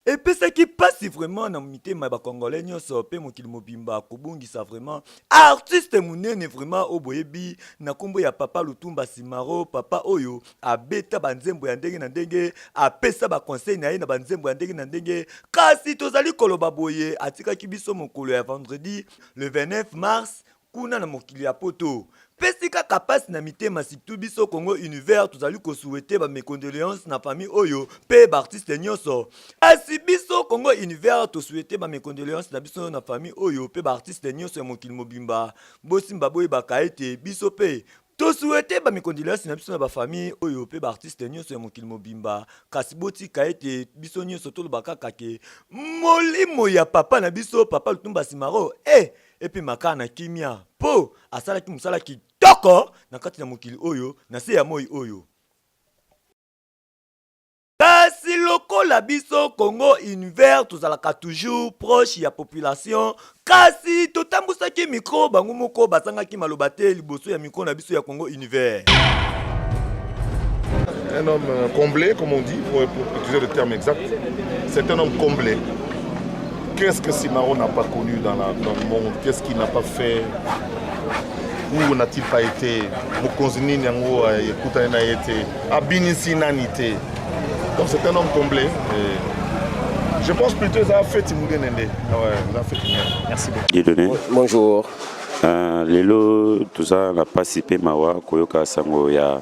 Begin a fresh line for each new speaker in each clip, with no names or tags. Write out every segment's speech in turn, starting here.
Epesaki pasi vraiment na mitema ya ba congolais nyonso pe mokili mobimba kobungisa vraiment artiste munene vraiment oyo boyebi na kombo ya papa Lutumba Simaro papa oyo abeta ba nzembo ya ndenge na ndenge apesa ba conseil na ye na ba nzembo ya ndenge na ndenge kasi tozali koloba boye atikaki biso mokolo ya vendredi le 29 mars kuna na mokili ya poto pesi kaka pasi na mitema surtout biso congo univers tozali kosuete ba mes condoleances na famille oyo pe baartiste nyonso kasi biso congo univers tosuete ba mes condoleances na biso na famille oyo pe baartiste nyonso ya mokili mobimba bosimba boyebaka ete biso pe To souhaite ba mes condoleances na biso na ba famille oyo pe ba artistes nyonso ya mokili mobimba kasi botika ete biso nyonso toloba kaka ke molimo ya papa na biso papa Lutumba Simaro e epema kaka na kimia po asalaki mosala kitoko na kati na mokili oyo na se ya moi oyo. kasi lokola biso congo univers tozalaka toujours proche ya population kasi totambusaki mikro bango moko bazangaki maloba te liboso ya mikro na biso ya congo univers
un homme euh, comblé comme on dit pour, pour utiliser le terme exact c'est un homme comblé qu'est-ce que Simaro n'a pas connu dans, la, dans le monde qu'est-ce qu'il n'a pas fait où n'a-t-il pas été mokonzi nini yango euh, ekutani na ye te abinisi nani te donc c'est un homme comblé et je pense plutôt eza feti munene nde eza feti munene merci beaucoup bonjour uh,
lelo
toza na mpasi mpe mawa koyoka sango ya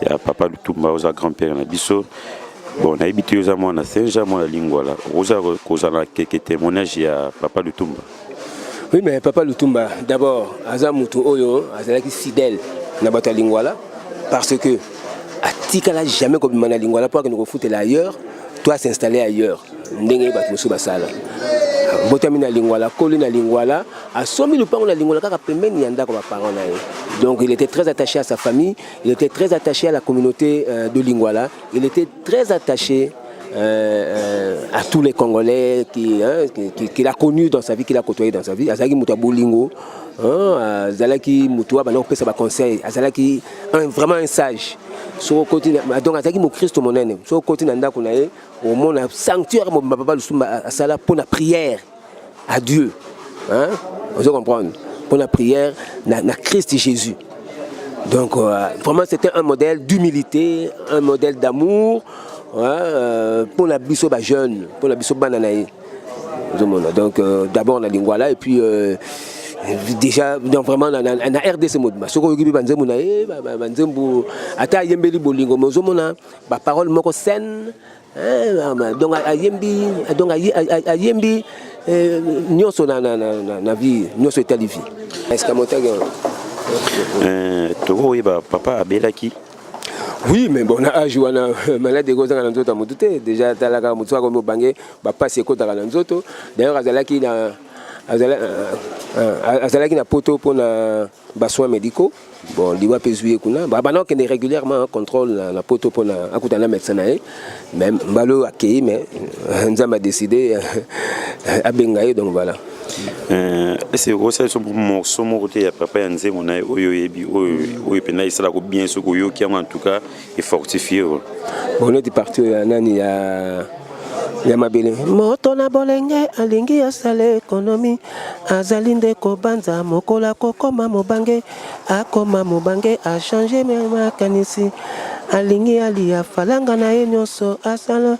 ya papa lutumba oza grand père na biso bon nayebi te oza mwana senja mwana lingwala okozala kozala keke témoignage ya papa lutumba Oui, mais
Papa Lutumba, d'abord, aza mutu oyo, azalaki fidèle na bato ya Lingwala, parce que atikala jamais kobima na Lingwala mpo akende kofutela ailleurs, to asinstalle ailleurs, ndenge bato mosusu basala. Botami na Lingwala, koli na Lingwala, asombi lupango na Lingwala kaka pembeni ya ndako ba parents na ye. Donc il était très attaché à sa famille, il était très attaché à la communauté euh, de Lingwala, il était très attaché Euh, euh, à tous les Congolais qu'il hein, qui, qui a connu dans sa vie, qu'il a côtoyé dans sa vie. Azalaki mutu bolingo, hein, azalaki mutu ba non pesa ba conseil, azalaki un, vraiment un sage. Soko koti donc azalaki mo Christo monene. Soko koti na ndako na ye, au monde sanctuaire mo papa lusumba asala pour la prière. à Dieu hein vous comprenez pour la prière na, na Christ Jésus donc euh, vraiment c'était un modèle d'humilité un modèle d'amour hein, euh, pour la biso ba jeune pour la biso bana na ye donc euh, d'abord na lingua là et puis euh, déjà donc vraiment na, na, na rdc mobimba soki oyoki mpe banzembo na ye banzembo ata ayembeli bolingo mais ozomona baparole moko saine Eh, donc ayembi donc ayembi eh, nyonso na, na, na, na, na vie nyonso etali vie escamotaki eh,
tokoyeba papa abelaki oui
mais bon na age wana malade ekozanga na nzoto ya motu te déjà atalaka motu soki akomi obange bapasi ekotaka na nzoto d'ailleurs azalaki na azalaki na poto mpona ba soins médicaux bon liwa mpe ezwi ye kuna abanda kokende régulièrement contrôle na, na poto mpo na akuta na médecin na ye mais mbala oyo akei mais euh, nzambe adécide euh, abenga ye donc voilà euh,
ese okosa biso morceau moko te ya papa ya nzembo na ye oyo oyebi oyo mpenza esalaka bien soki oyoki yango en tout cas efortifie oyo boneti
parti oyo ya nani ya ya mabele moto na bolenge alingi asala ekonomi azali nde kobanza mokolo akokoma mobange akoma mobange achange makanisi alingi aliya falanga na ye nyonso asala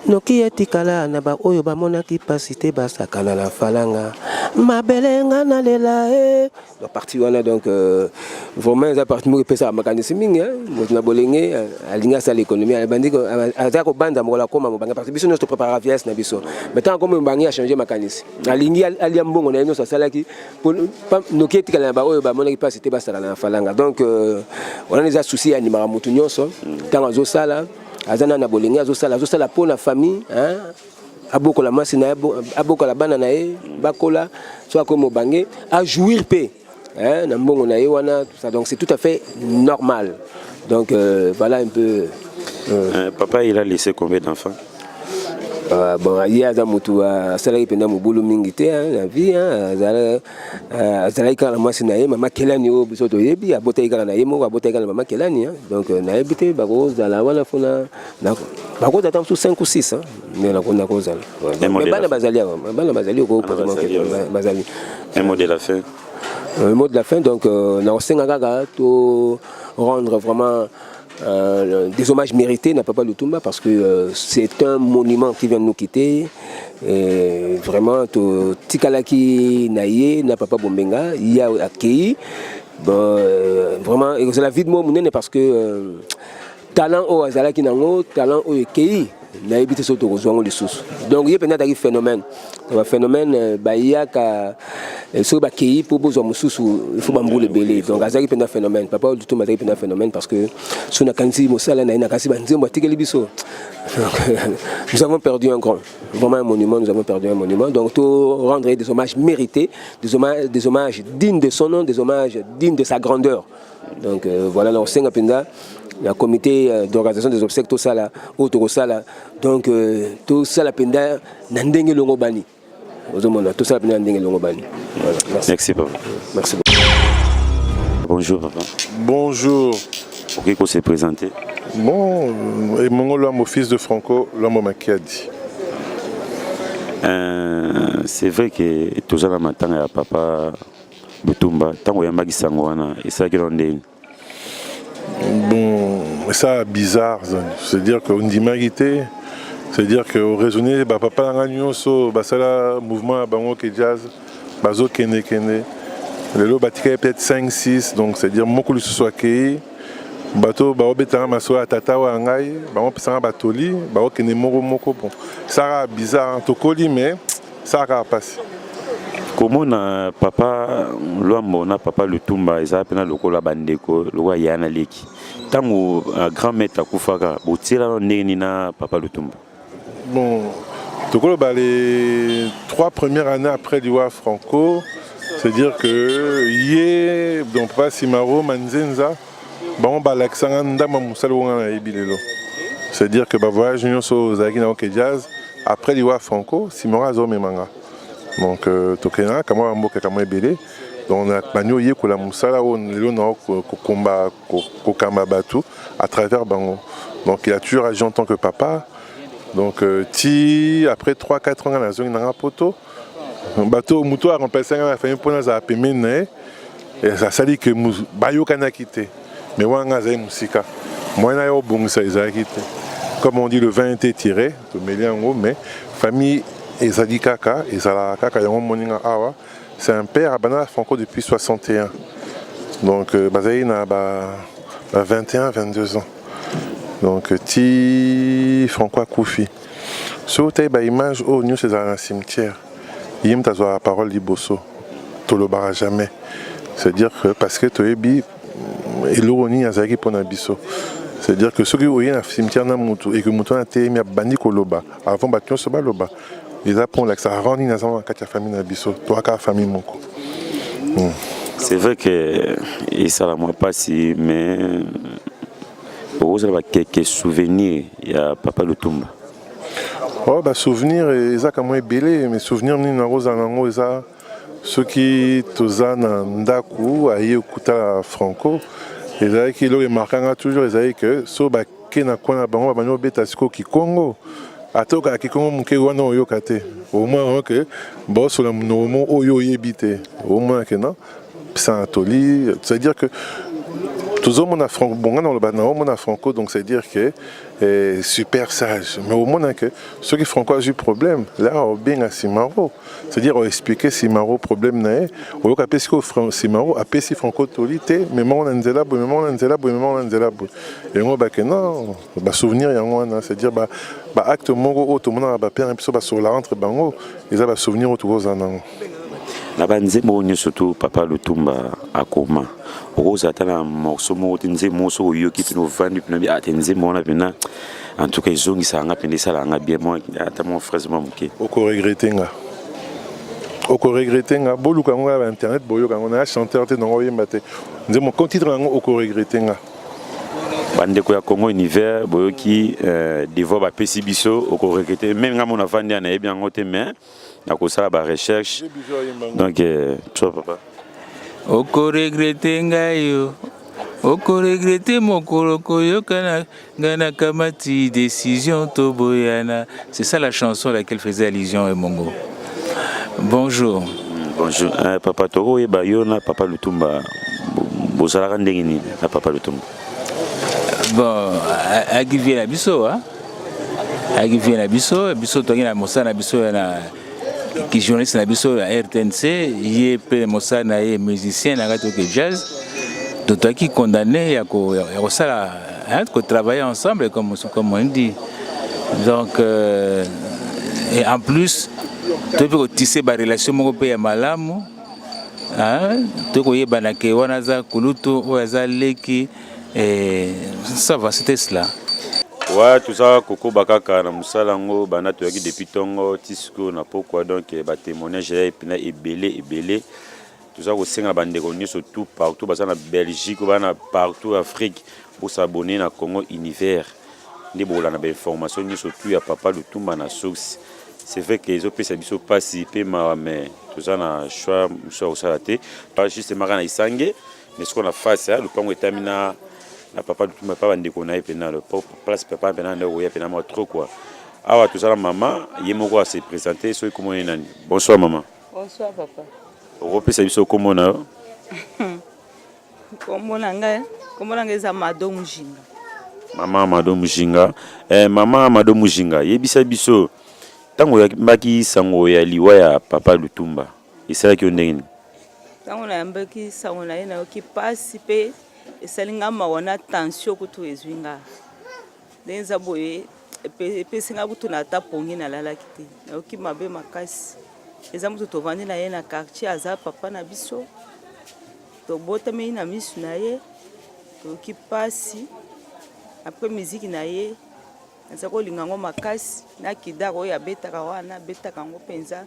noki etikala na baoyo bamonaki mpasi te basakana na falanga mabele nga nalela e eh. La partie wana donc euh, vraiment eza partie moko epesaka makanisi mingi hein. moto na bolenge euh, alingi asala économie abandi aza kobanda mokolo akoma mobange parce que biso nyonso topreparaka vieillesse na biso mais ntango akoma mobange achange makanisi alingi alia mbongo na ye nyonso asalaki noki etikala na baoyo bamonaki mpasi te basala na falanga donc euh, wana eza souci ya animaka motu nyonso ntango azosala aza na na bolenge azosala azosala mpo na famille hein. abokola mwasi na ye abokola bana na ye bakola so akomi mobange ajouir mpe eh, na mbongo na ye wana tout ça donc c'est tout à fait normal donc
euh, voilà
un peu euh.
Euh, papa il a laissé
combien
d'enfants Euh,
bon ye aza motu asalaki mpenza mobulu mingi te na vie azalaki kaka na mwasi na ye mama kelani oyo biso toyebi abotaki kaka na ye moko abotaki kaka na mama kelani donc nayebi te bakozala wana fona bakoza ata mosusu 5 ou 6 nde nakozala bana bazali awa bana bazali bazali un mot de la
fin un mot de la
fin donc euh, nakosenga kaka to rendre vraiment Euh, des hommages mérités n'a Papa Lutumba parce que euh, c'est un monument qui vient de nous quitter. Et vraiment, Tikalaki Naye, n'a Papa Bombenga, il y a accueilli. Bon, euh, vraiment, c'est la vie de moi, parce que euh, Talent oyo azalaki nango, talent oyo ekeyi nayebi te soki tokozwa yango lisusu donc ye mpenza azalaki phénomène ba phénomène euh, bayaka euh, soki bakei mpo bozwa mosusu ifo bambula ebele donc azalaki mpenza phénomène papa oyo dutumba azalaki mpenza phénomène parce que so nakanisi mosala na ye nakanisi banzembo atikeli biso nous avons perdu un grand vraiment un monument nous avons perdu un monument donc to rendre des hommages mérités des hommages, des hommages dignes de son nom des hommages dignes de sa grandeur donc euh, voilà na kosenga mpenza na comité euh, d'organisation des obsèques tosala oyo tokosala donc euh, tosala mpenza na ndenge elongobani ozomona tosala mpenza na ndenge elongobani voilà, merci. merci papa
merci bonjour papa bonjour
okoki kose
présenter bon
euh, emongo lwambo fils de franco lwambo makiadi euh,
c'est vrai que toza na matanga ya papa Bitumba ntango oyambaki sango wana esalaki nao ndenge Bon,
ça bizarre, c'est-à-dire qu'on ndimaki te, c'est-à-dire que raisonner ba papa na ngai nyonso basala mouvement ya bango ke jazz bazokende kende lelo batikali peut-être 5 6 donc c'est-à-dire moko lisusu akei bato baobetanga masolo ya tata oyo ya ngai bangopesanga batoli baokende moko moko bon saka bizarre tokoli mais esala kaka mpasi komona
papa lwambo na papa lutumba ezala mpena lokola bandeko lokola ya na leki ntango uh, grand maître akufaka botielana ndenge nini na papa lutumba bon
tokoloba les trois premières années après liwa franco c'est dire que ye donc papa simaro manzenza bango balakisa nga ndambo mosali oyo nga nayebi lelo c'est dire que bavoyage nyonso oyo ozalaki nango ke jazz après liwa franco nsima yango azomema nga donc euh, tokendaka kamwa bamboka kamwa ebele donc bandi oyekola mosala oyo lelo nao kokomba kokamba bato à travers bango donc il a toujours agi en tant que papa donc euh, ti après 3 4 ans nga nazongi nanga poto bato moto a remplace ngai na famille mpo nazala pembeni na ye asali ke bayokanaki te mais wana ngai azali mosika moyen na ye obongisa ezalaki te comme on dit le vin était tiré tomeli yango mais famille ezali kaka ezalaka kaka yango omoni nga awa c'est un père abanda na franco depuis 61 donc euh, bazali na ba, ba 21 22 ans donc ti franco akufi Soki otali ba image oyo nioso ezala na cimetière ye mutu azwaka parole liboso tolobaka jamais c'est dire que parce que toyebi eloko nini azalaki pona biso c'est dire que soki oye na cimetière na mutu et que mutu wana ateyemi abandi koloba avant bato nioso baloba eza pona olakisa rang nini aza na kati ya famille na biso toaka famille moko hmm.
c'est vrai que esala mwa pasi mais okozala ba quelques souvenirs ya papa lutumba oh
ba souvenir eza kamwa ebele mais souvenir nini nakozala nango eza soki toza na ndako aye okutala franco ezalaki eloko emarkanga toujours ezalaki ke so bake na kwana bango babandi kobeta sikoyo kikongo ata okaka kikongo moke wana oyoka te omona ke baosola monoko moko oyo oyebi te omona ke non Saint Toli, c'est-à-dire que tozomona franco bonga na oloba naomona franco donc c'est dire que eh, super sage mais omona que soki franco azwi problème la obenga simaro c'est dire oexplike simaro problème na ye oyoka mpe sikoyo simaro apesi franco toli te memango na nzela boye memango na nzela boye memango na nzela boye yango bake non basouvenir yango wana c'est dire baacte moko oyo tomonaka bapere biso basola entre bango eza basouvenir oyo tokozala nango na
banzembo oyo nyonso to papa lutumba akoma okozala ata na morceau moko te nzembo moko soki oyoki mpena ovandi mpena bi ate ah, nzembo wana mpena en tout cas ezongisaka nga mpena esalaka nga bien mwa ata mwa fraise mwa moke okoregrete nga
okoregrete nga boluka yango ya bainternet boyoka yango naya chanteur te nango oyemba te nzembo ko titre yango okoregrete nga bandeko
ya congo univers boyoki euh, devoir bapesi biso okoregrete meme nga mona vandi ya nayebi yango te mais na kosala ba recherche donc euh, toi papa
okoregrete ngai yo okoregrete mokolo koyokana ngai nakamati décision toboyana c'est ça la chanson à laquelle faisait allusion emongo bonjour bonjour
euh, papa tokoyeba yo na papa lutumba bozalaka ndenge nini na papa lutumba
Bon, ayaki vie na biso hein? ayaki vie na biso biso toyaki na mosala na biso ya na kijournaliste na biso ya rtnc ye mpe mosala na ye musicien na kati oke jazz totoyaki condamné ya kosala kotravailler ensemble comme, comme on dit donc euh, et en plus toyebi kotise barelation moko mpe ya malamu Ah, to koyebana ke wana aza kulutu oyo aza leki eh, ça va c'était cela Ouais,
toza kokoba kaka na mosala yango banda toyaki depuis ntongo ti sikoyo na pokwa donc eh, batémoignage ya epina ebele ebele toza kosenga na bandeko nyonso tout partout baza na belgique baa na partout afrique bosabone na congo univers nde bokolanda bainformation nyonso tout ya papa lutumba na source C'est vrai que ezo pesa biso pasi pe mawa mais toza na choix mosusu ya kosala te pa juste maka na isange mais sikoyo na face ya lopango etami na na papa lutumba pa bandeko na ye mpena place papa mpena nde okoya mpena mwa trop quoi awa toza na mama ye moko ase présente soki komona ye nani bonsoir mama bonsoir papa
okopesa biso
komona yo
Kombo na ngai, kombo na ngai eza Mado Mujinga. Mama
Mado Mujinga. Eh, mama Mado Mujinga, yebisa biso ntango oyambaki sango ya liwa ya papa Lutumba esalaki yo ndenge nini? Ntango
nayambaki sango na ye nayoki mpasi mpe esali ngai mawa na tension kutu ezwi ngai. ndenge eza boye epesi ngai kutu na ata pongi nalalaki te nayoki mabe makasi eza moto tovandi na ye na quartier aza papa na biso tobotamei na misu na ye toyoki mpasi apres miziki na ye naza kolinga yango makasi na kidar oyo abetaka wana abetaka yango mpenza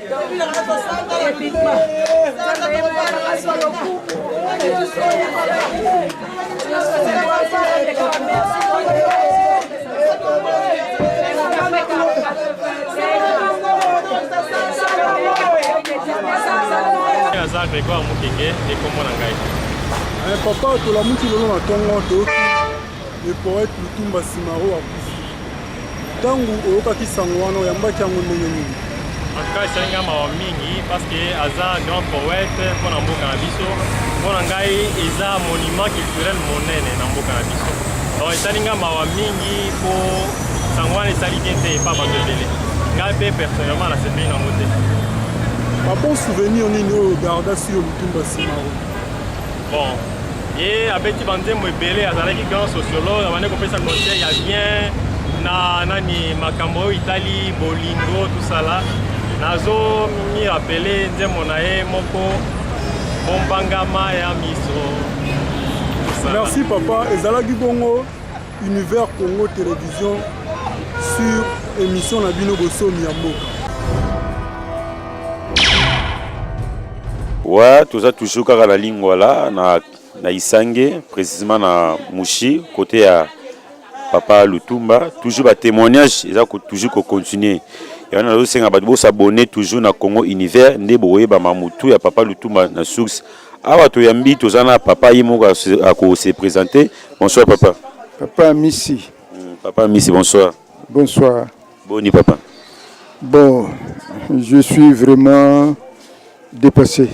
aza grégoire mokenge ekombo na ngai papa tolamuki lelo na ntongo toyoki Le poète Lutumba Simaro akufi. Ntango oyokaki sango wana oyambaki yango ndenge nini? En tout cas esali
ngai mawa mingi parce que aza grand poète mpo na mboka na biso. Mpo na ngai eza monument culturel monene na mboka na biso. Donc esali ngai mawa mingi mpo sango wana esali bien te epa bato ebele. Ngai mpe personnellement nasepeli nango te. Ba
bon souvenir nini oyo ogarda sur Lutumba Simaro?
Bon, ye abeti banzembo ebele, azalaki grand sociologue, abandi kopesa conseil ya bien na nani makambo oyo itali bolingo tusala. Nazo mi rappeler nzembo na ye moko bombangama ya miso.
Tusala. Merci papa, ezalaki bongo. Univers Congo Television sur émission na bino bosomi ya mboka.
Ouais, toza toujours kaka na lingwala na na Isange, précisément na Mushi, côté ya papa Lutumba, toujours ba témoignages, ils ont toujours ko continuer. Et on a aussi un bateau s'abonner toujours na Congo Univers, nde boye ba mamutu ya papa Lutumba na source Awa toyambi toza na papa ye moko ako se présenter. Bonsoir papa. Papa Misi.
Hmm, papa Misi
bonsoir. Bonsoir.
Boni papa. Bon, je suis vraiment dépassé.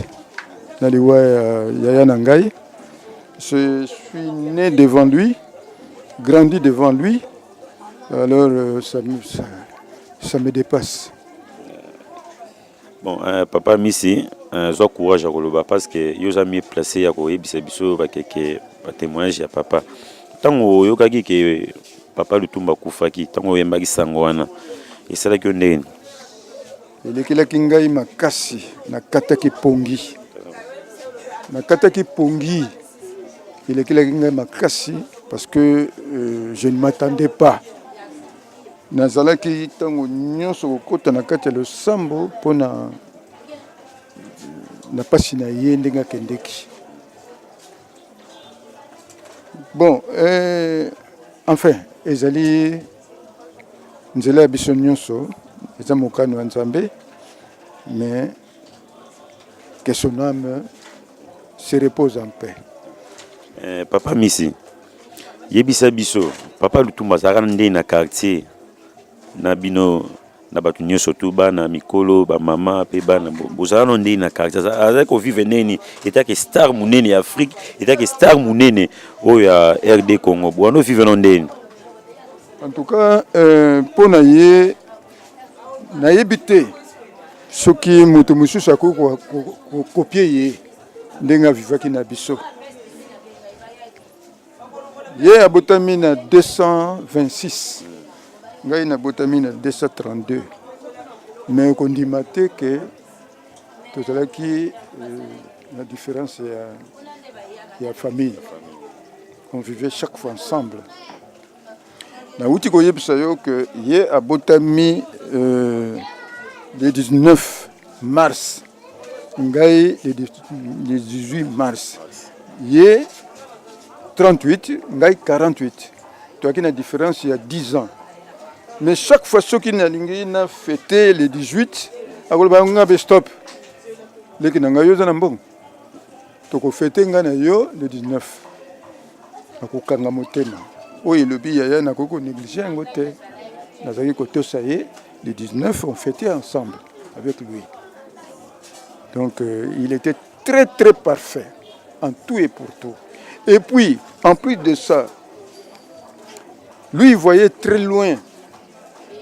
Na liwa euh, ya yaya na ngai. Je suis né devant lui, grandi devant lui. Alors euh, ça, ça, ça me dépasse.
Bon, euh, papa Misi, euh, zwa courage ya koloba parce que yo oza mieux placé ya koyebisa biso bakeke ba témoignage ya papa. Ntango oyokaki ke papa Lutumba akufaki, ntango oyembaki sango wana esalaki yo ndenge nini?
Elekelaki ngai makasi, nakataki pongi, nakataki pongi, elekelaki ngai makasi parce que euh, je ne m'attendais pas Nazalaki ntango nyonso kokota na kati ya losambo mpo na na mpasi na ye ndenge akendeki bon eh, enfin ezali nzela ya biso nyonso eza mokano ya nzambe mais Que son âme se repose en paix. Eh,
papa Misi, yebisa biso, papa Lutumba azalaka nde na quartier na bino na bato nyonso tu bana mikolo bamama mpe bana bozala no ndenge na quartier azali kovivre neni etake star monene ya afrique etake star monene oyo ya rd congo bwana ovivre no ndeni en
tout cas mpo euh, na ye nayebi te soki moto mosusu akoki kokopie ye ndenge avivaki na biso ye abotami na 226 ngai nabotami na 232 me kondima te ke tozalaki euh, na différence ya, ya famille on vivait chaque fois ensemble Nauti koyebisa yo que ye abotami euh, le 19 mars ngai le 18 mars ye 38 ngai 48 toyaki na différence ya 10 ans mais chaque fois soki nalingi na fete le 18 akoloba nga be stop leki na ngai yo oza na mbongo toko fete nga na yo le 19 nakokanga motema oyo elobi yaya nakoki konéglige yango te nazalaki kotosa ye le 19 on fêtait ensemble avec lui donc euh, il était très très parfait en tout et pour tout et puis en plus de ça lui il voyait très loin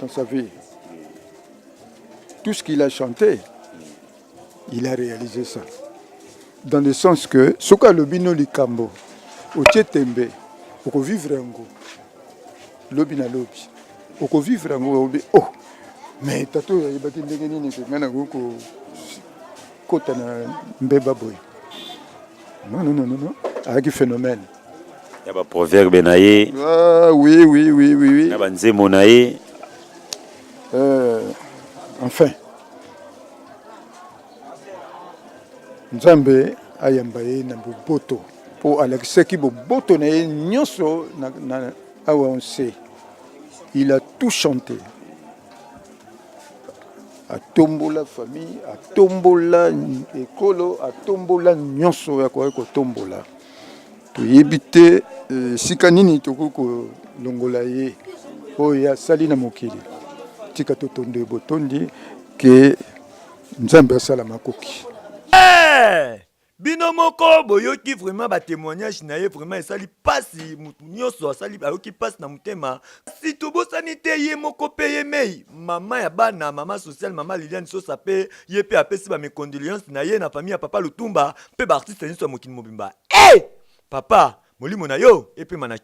dans sa vie tout ce qu'il a chanté Il a réalisé ça. Dans le sens que soki alobi no likambo otie tembe okovivre yango lobi na lobi okovivre yango obi oh mais tata oyo ayebaki ndenge nini kenga nakoki kokota na mbeba boye non non non non ayaki phénomène ya
baproverbe na ye ah, oui oui
oui oui oui na banzembo na ye
euh,
enfin nzambe ayamba ye na boboto mpo alakisaki boboto na ye nyonso na, na awa onse il a tout chanté atombola famille atombola ekolo atombola nyonso ya koyaki kotombola Toyebi te esika nini tokoki kolongola ye oyo ye asali na mokili. Tika totondo ye botondi ke Nzambe asala makoki. Hey!
bino moko boyoki vraiment ba témoignage na ye vraiment esali pasi mutu nyonso asali ayoki pasi na motema si tobosani te ye moko mpe ye mei mama ya bana mama social mama liliane sosa mpe ye mpe apesi ba mecondoleance na ye na famille ya papa lutumba mpe baartiste nyonso ya mokili mobimba. Ee! Papa, molimo na yo epema na kimia.